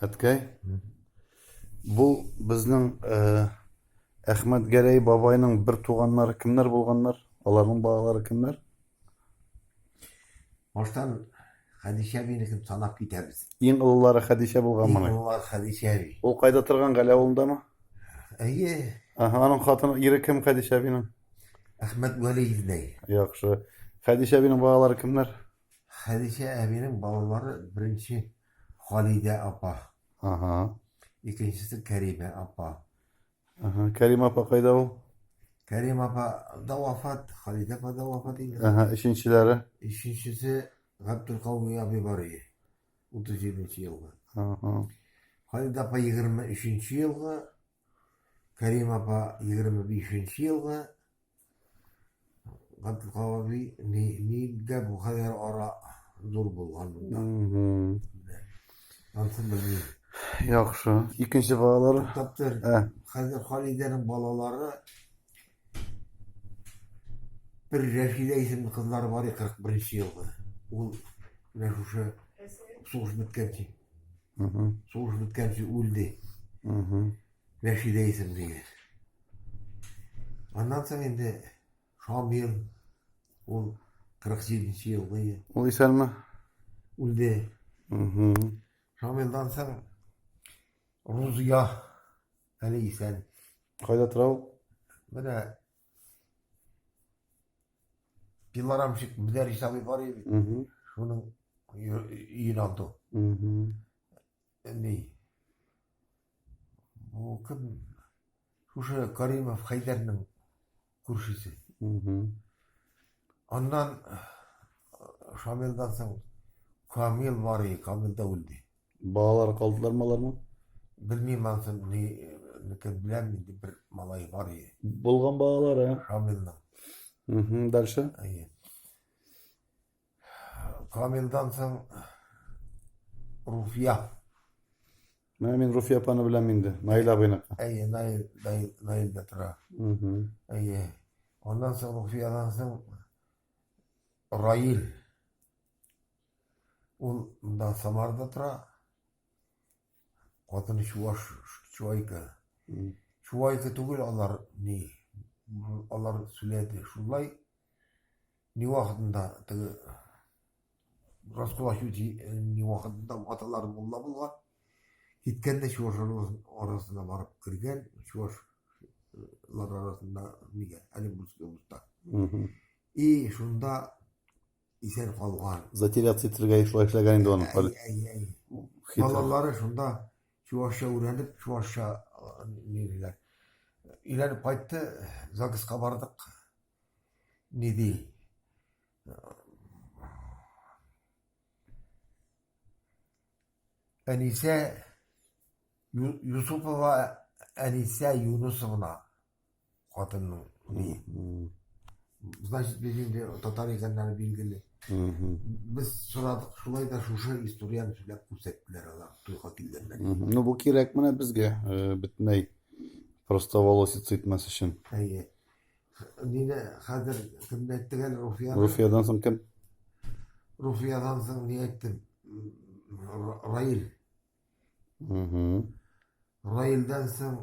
Әткәй, бу безнең э, Әхмәт Гәрәй бабайның бер туганнары кемнәр булганнар? Аларның балалары кемнәр? Баштан Хәдичә бинекен санап китәбез. Иң олылары Хәдичә булган моны. Олылар Хәдичә би. Ул кайда торган Гәлә авылындамы? Әйе. Аһа, аның хатыны ире кем Хәдичә бинең? Әхмәт Вәли Яхшы. Хәдичә бинең балалары кемнәр? Хәдичә әбинең балалары беренче Халидә апа. Ага. Икенчесе Кәримә апа. Ага. Кәрим апа кайда ул? Кәрим апа да вафат, Халидә апа да вафат инде. Ага. Өченчеләре? Өченчесе Габдулкауми абый бар иде. 37 нче елгы. Ага. Халидә апа 23 нче елгы, Кәрим апа 25 нче елгы, Габдул Каваби ни нидә бу хәзер ара зур булган монда. Мгм. Ансын белмим. Яхшы. Икенче балалар. Таптыр. Ә, Хәзер Халидәнең балалары бер Рәшидә исемле кызлары бар иде 41 елгы. Ул менә шушы сугыш беткәнче, мгм. сугыш беткәнче үлде. Мгм. Рәшидә исемлеге. Аннан соң инде Шамил, ул 47-нче елгы ел. Ул исәнме? Үлде. Шамилдан соң Рузия, әле исән. Кайда тора ул? Менә пилорамщик Мөдәрис абый бар иде. Шуның өен алды. Әни, бу кем? Шушы Каримов Хәйдәрнең күршесе. Аннан Шамилдан соң Камил бар и, Камил да үлде. Балалар калдылар маларның? Белмим ансын, ни, микән беләм, инде бер малай бар и. Булган балалары. Шамилның. Угу, дальше? Әйе. Камилдан соң Руфия. Менә мин Руфия апаны беләм инде. Наил абыйныкы. Әйе, Наил, Наил, Наил да тора. Әйе. Аннан соң Руфиядан соң Раил. Ул монда Самарда тора. Катыны чуваш, чуайка. Чуайка түгел алар ни. Алар сүләде. Шулай ни вакытында теге Раскулачу ни вакытында аталар мулла булган. Киткәндә чуваш арасына барып кергән, чувашлар арасында нигә, әле булса. И шунда исән калган. Затеряться итергә шулай эшләгән инде аның. Әй, әй, әй. Балалары шунда чувашча өйрәнеп, чувашча ниләр. Өйләнеп кайтты, ЗАГСка бардык. Ни ди? Әнисә Юсупова Әнисә Юнусовна хатынның ни значит без инде татар икәннәре билгеле без сорадык шулай да шушы историяны сөйләп күрсәттеләр алар туйга килгәннәр ну бу кирәк менә безгә э, бөтенләй просто волосец итмәс өчен әйе нине хәзер кемне әйттек әле руфия руфиядан соң кем руфиядан соң ни әйттем раил Раилдән соң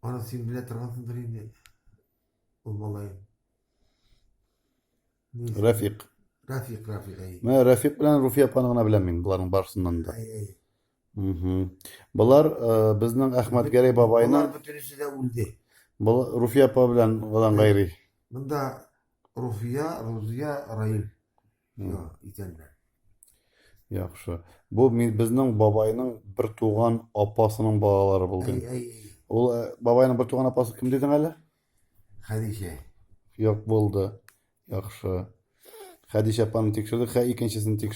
аны син белә торгансыңдыр инде. Ул малай. Рәфик. Рәфик, Рәфик. Менә Рәфик белән Руфия апаны гына беләм мин буларның барысыннан да. Болар э, безнең Әхмәт Гәрәй бабайның... Болар бөтенесе дә үлде. Бұл Руфия апа белән одан гайри. Мында Руфия, Рузия, Раил. Икәннәр. Яхшы. Бу безнең бабайның бер туган апасының балалары булды. Ул э, бабайның бер туган апасы кем дидең әле? Хәдичә. Юк булды. Яхшы. Хәдичә апаны тикшердек, хә икенчесен тикшердек.